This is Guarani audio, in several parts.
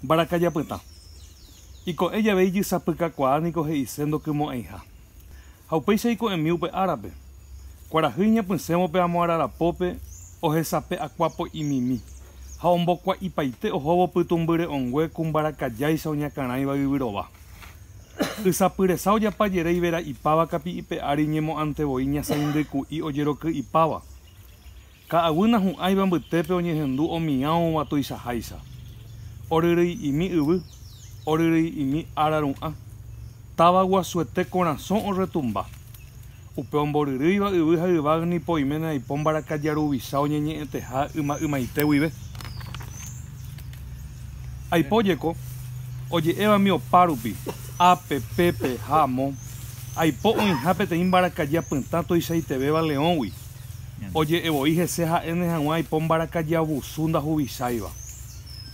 Mbarakaja pytã. Iko'ẽ jave ijysapykakuaa niko he'ise ndokymo'ẽiha. Ha upéicha iko'ẽmi upe árape. Kuarahy iñapysẽvo pe amo ararapópe ohesape akuapo'imimi ha ombokua'ipaite ohóvo pytũmbyre'õngue ku mbarakajáicha oñakãrãiva yvyrova. Ysapyresa ojapa jere ivera'ipáva kapi'ipe ári ñemo'ãntevoi ñasãindyku'i ojeroky'ipáva. Ka'aguy nahu'ãiva mbytépe oñehendu omiãova tuichaháicha. Oryryi'imi yvy, oryryi'imi ára ru'ã. Táva guasuete korasõ orretumba. Upe omboryrýiva yvy ha yvág̃ nipo oiméne aipo mbarakaja ruvicha oñeñe'ẽteha yma ymaite guive. Aipo jeko, oje'évami opa rupi, ápe, pépe ha amo, aipo oĩha peteĩ mbarakaja pytã tuichaitevéva leõgui. Oje'e voi hese ha'éne hag̃ua aipo mbarakaja abusu ndahuvisáiva.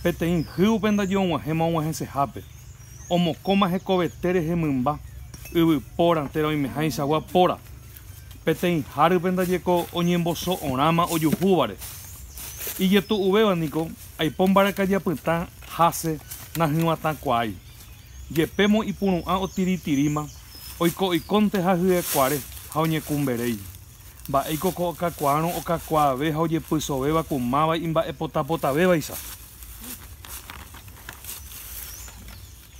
Peteĩ hýgupe ndaje og̃uahẽma og̃uahẽsehápe. Omokõma hekovete rehe mymba, yvy póra térã oimehaichagua póra. Peteĩ hárype ndaje ko oñemboso'orãma ojuhúvare. Ijetu'uvéva niko aipo mbarakaja pytã hase nahỹvatãkuaái. Jepémo ipuru'ã otiritiríma, oiko oikónte ha hyekuare, ha oñekumberéi. Mba'éiko ko okakuaárõ okakuaave ha ojepysovéva ku máva imba'epotapotavévaicha!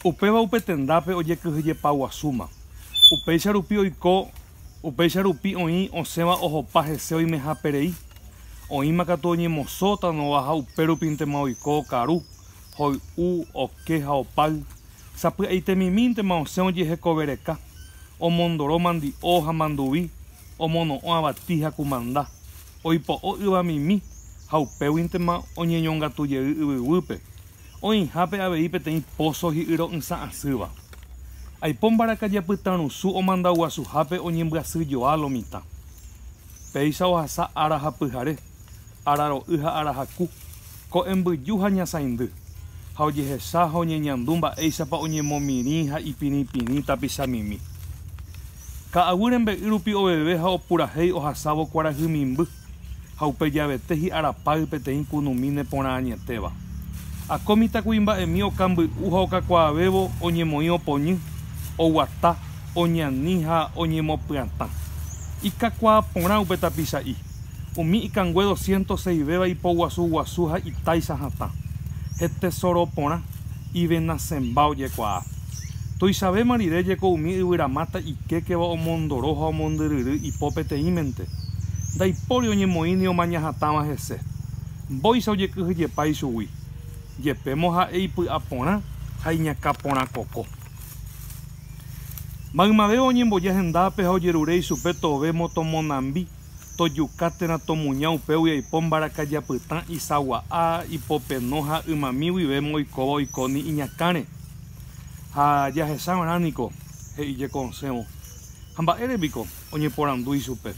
Upéva upe tendápe ojekyhyjepaguasúma. Upéicha rupi oiko, upéicha rupi oĩ osẽva ohopa hese oimeháperei. Oĩma katu oñemosótano-va ha upérupintema oiko okaru, hoy'u, oke ha opáy, sapy'aitemimíntema osẽ ojehekove reka, omondoro mandi'o ha manduvi, omono'õ avati ha kumanda, oipo'o yvamimi ha upéguintema oñeñongatu jey yvyguýpe, oĩhápe avei peteĩ póso hi'yro'ysã asýva. Aipo mbarakaja pytãrusu omandaguasuhápe oñembyasyjoa lo mitã. Péicha ohasa ára ha pyhare. araro'y ha arahaku, ko'ẽmbyju ha ñasaindy, ha ojehecha ha oñeñandu mba'éichapa oñemomirĩ ha ipirĩpirĩ tapichamimi. Ka'aguy rembe'y rupi oveve ha opurahéi ohasávo kuarahy mimby, ha upe javete hi'ára pay peteĩ kunumi neporã añetéva. Akó mitãkuimba'emi okamby'u ha okakuaavévo oñemoĩ opoñy, oguata, oñani ha oñemopyatã. Ikakuaa porã upe tapicha'i. Umi ikangue doscientos seis véva ipoguasu guasu ha itáicha hatã, hetesoro porã, ivenasemba ojekuaa. Tuichavéma rire jeko umi yvyramáta ikékeva omondoro ha omondyryry ipo peteĩmente, ndaipóri oñemoĩ ni omaña hatãva hese. Mbóicha ojekyhyjepa ichugui, jepémo ha'e ipy'a porã ha iñakã porã koko. Maymavéva oñemboja hendápe ha ojerure ichupe tove moto monambi. Tojuka térã tomuña upégui oipo mbarakaja apytã isagua'a, ipopeno ha ymami guivéma oikóva oiko ni iñakãre. Ha jahecha va'erã niko, he'i jeko osẽvo. Ha mba'ére piko? oñeporandu ichupe.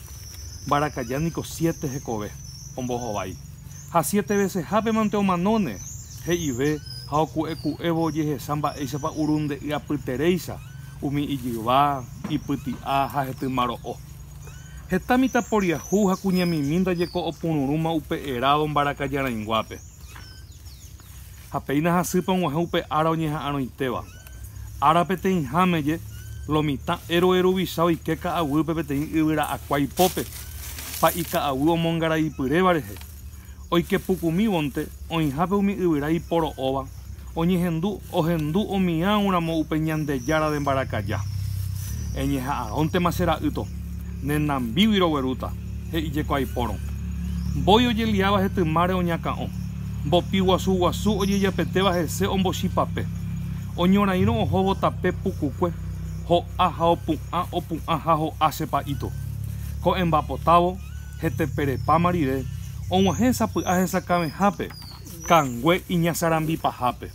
Mbarakaja niko siete hekove ombohovái. Ha siete vesehápe mante omanóne, he'ive ha oku'eku'évo ojehecha mba'éichapa urunde'y apyteréicha umi ijyva, ipyti'a ha hetymaro'o. Heta mitãporiahu ha kuñamimi ndajeko opururũma upe erádo mbarakajarãinguápe. Ha péina hasýpe og̃uahẽ upe ára oñeha'arõitéva. Ára peteĩháme je, lo mitã héroe ruvicha oike ka'aguýpe peteĩ yvyra'akua ipópe, pa'i ka'aguy omongaraipyréva rehe. Oikepukumívonte oĩhápe umi yvyra iporo'óva oñehendu ohendu omiã'u ramo upe Ñandejára de mbarakaja. Eñeha'arõntema che ra'ýto, ne nambígui roguerúta, he'i jeko aipórõ. Mbói ojeliáva hetymáre oñakã'o, mbopi guasu guasu ojejapetéva hese ombochipape. Oñorairõ ohóvo tape pukukue, ho'a ha opu'ã opu'ã ha ho'a che pa'íto. Ko'ẽmba potávo, heteperepáma rire, og̃uahẽ sapy'a hesakãvehápe, kangue iñasarambi pahápe.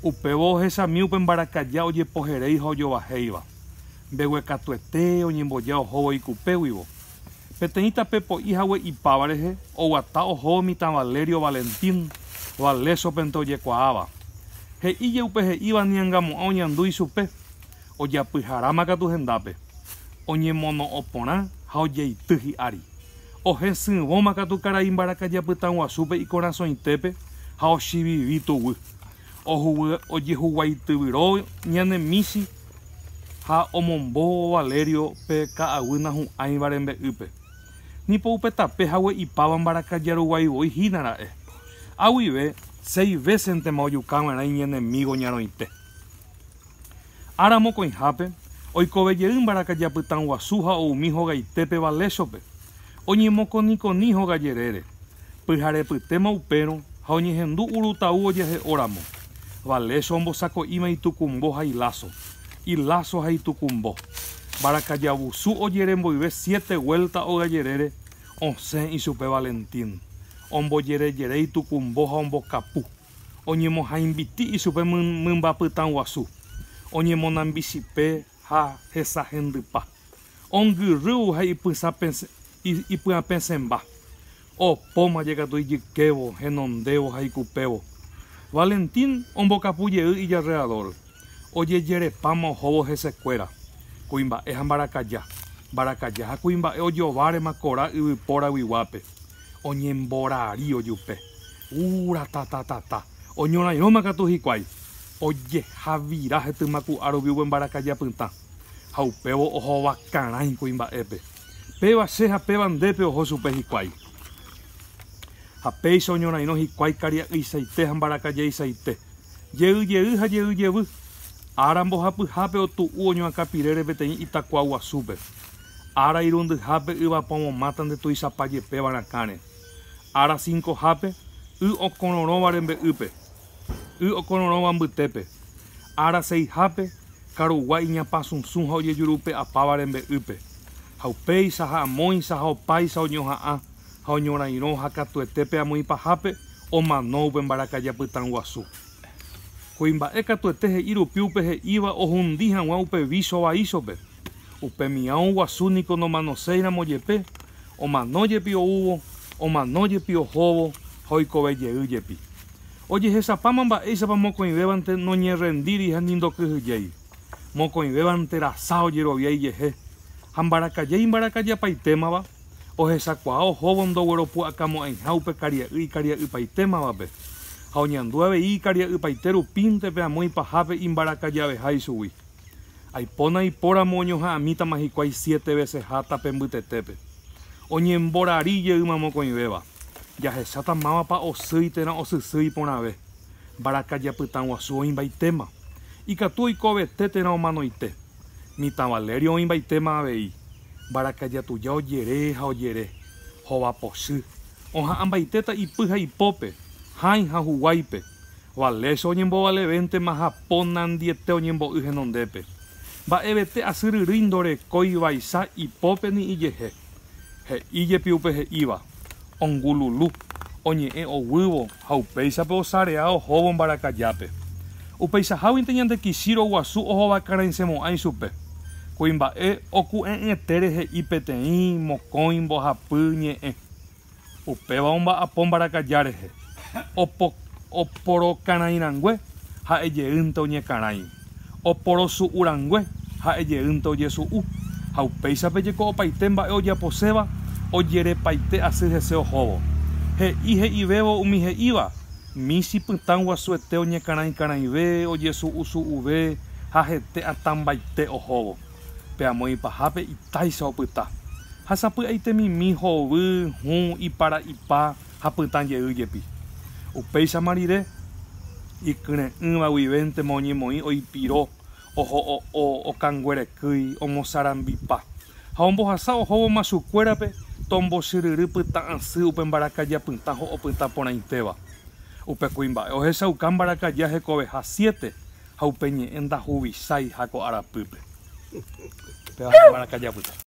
Upévo ohechami upe mbarakaja ojepoheréi ha ojovahéiva. Mbeguekatuete oñemboja ohóvo ikupéguivo. Peteĩ tape po'i hague ipáva rehe oguata ohóvo mitã Valerio Valentín Valésopente ojekuaáva. He'íje upe he'íva niangamo'ã oñandu ichupe. Ojapyharáma katu hendápe, oñemono'õ porã ha ojeity hi'ári. Ohesỹvõma katu karai mbarakaja pytãguasúpe ikorasõitépe ha ochivivi tuguy. Ohugue ojehuguaityvyro ñane michi ha omombo Valerio pe ka'aguy nahu'ãiva rembe'ýpe. Ni po upe tape hague ipáva mbarakaja ruguái voi hína ra'e. Ha guive seis vésentema ojukava'erã iñenemígo ñarõite. Ára mokõihápe, oikove jey mbarakaja pytã guasu ha oumi hogaitépe Valéchope. Oñemokonikoni hoga jerére. Pyharepytéma upérõ ha oñehendu Uru Tau ojehe'o ramo. Valécho ombosako'íma itukumbo ha iláso, iláso ha itukumbo. Mbarakaja vusu ojere mboyve siete guélta hoga jerére, osẽ ichupe Valentín. Ombojerejere itukumbo ha ombokapu. oñemohãimbiti ichupe mymba pytã guasu, oñemonambichipe ha hesahendypa, ongyrývo ha ipyapẽsẽmba, opóma jekatu ijykévo, henondévo ha ikupévo. Valentín ombokapu jey ijarreadór, ojejerepáma ohóvo hesekuéra, kuimba'e ha mbarakaja, mbarakaja ha kuimba'e ojovárema korã yvypóraguiguápe, oñemborari ojupe. Uh, ratatatata! Oñorairõma katu hikuái! Ojejavira hetymaku'a rupi upe mbarakaja pytã. Ha upévo ohovakarãi kuimba'épe. Péva che ha péva ndépe oho chupe hikuái. Ha péicha oñorairõ hikuái karia'yisaite ha mbarakajaisaite. Jey jey ha jey jevy. Ára mbohapyhápe otu'u oñoakãpirére peteĩ itakuaguasúpe. ára irundyhápe yvapomomáta nde tuichapa jepéva rakãre. Ára sinkohápe, y okororõva rembe'ýpe, y okororõva mbytépe. Ára seihápe, karugua iñapãsusũ ha ojejurupe'apáva rembe'ýpe. Ha upéicha, ha amóicha, ha opáicha oñoha'ã, ha oñorairõ, ha katuete pe amoĩ pahápe omano upe mbarakaja pytã guasu. Kuimba'e katuete he'i rupi upe he'íva ohundi hag̃ua upe vícho vaíchope. Upe mião guasu niko nomanoséiramo jepe, omano jepi oúvo, omano jepi ohóvo ha oikove jey jepi. Ojehechapáma mba'éichapa mokõivévante noñerrendíri ha ni ndokyhyjéi. Mokõivévante rasa ojerovia ijehe, ha mbarakaja imbarakajapaitémava, ohechakuaa ohóvo ndogueropu'akamo'ãiha upe karia'y ikaria'ypaitémavape, ha oñandu avei ikaria'ypaite rupínte pe amo ipahápe imbarakajaveha ichugui. Aipóna ipóramo oñoha'ãmítama hikuái siete veseha tape mbytetépe. Oñemborari jeýma mokõivéva, jahecháta mávapa osýi térã osysýi porãve. Mbarakaja pytãguasu oĩmbaitéma. Ikatu oikovete térã omanoite. Mitã Valerio oĩmbaitéma avei. Mbarakaja tuja ojere ha ojere. Hova pochy. Oha'ãmbaitéta ipy ha ipópe, hãi ha huguáipe. Valécho oñembovaleventema ha ponandiete oñembo'y henondépe. Mba'evete asyryrýi ndorekói vaicha ipópe ni ijehe. He'i jepi upe he'íva, ongululu, oñe'ẽ oguývo ha upéichape osarea ohóvo mbarakajápe. Upeichaháguinte ñande Kishiro guasu ohovakarãisemo'ã ichupe. Kuimba'e oku'e'ỹetere he'i peteĩ mokõi mbohapy ñe'ẽ. Upéva omba'apo mbarakaja rehe, oporokarãi rangue ha'e jeýnte oñekarãi, oporosu'u rangue ha'e jeýnte ojesu'u, ha upéichape jeko opaite mba'e ojaposéva ojerepaite asy hese ohóvo. He'i he'ivévo umi he'íva, michi pytã guasuete oñekarãikarãive, ojesu'usu'uve ha hete atãmbaite ohóvo. pe amo ipahápe itáicha opyta, ha sapy'aite mimi, hovy, hũ, ipara'ypa ha pytã jey jepi. Upéichama rire, ikyre'ỹva guivéntema oñemoĩ oipiro, oho'o'o, okanguerekýi, omosarambipa, ha ombohasa ohóvo machukuérape tombochyryry pytã asy upe mbarakaja pytã ho'opyta porãitéva. Upe kuimba'e ohechauka mbarakaja hekoveha siete, ha upe ñe'ẽ ndahuvisái ha ko arapýpe. Péva ha'e maracayá pytã.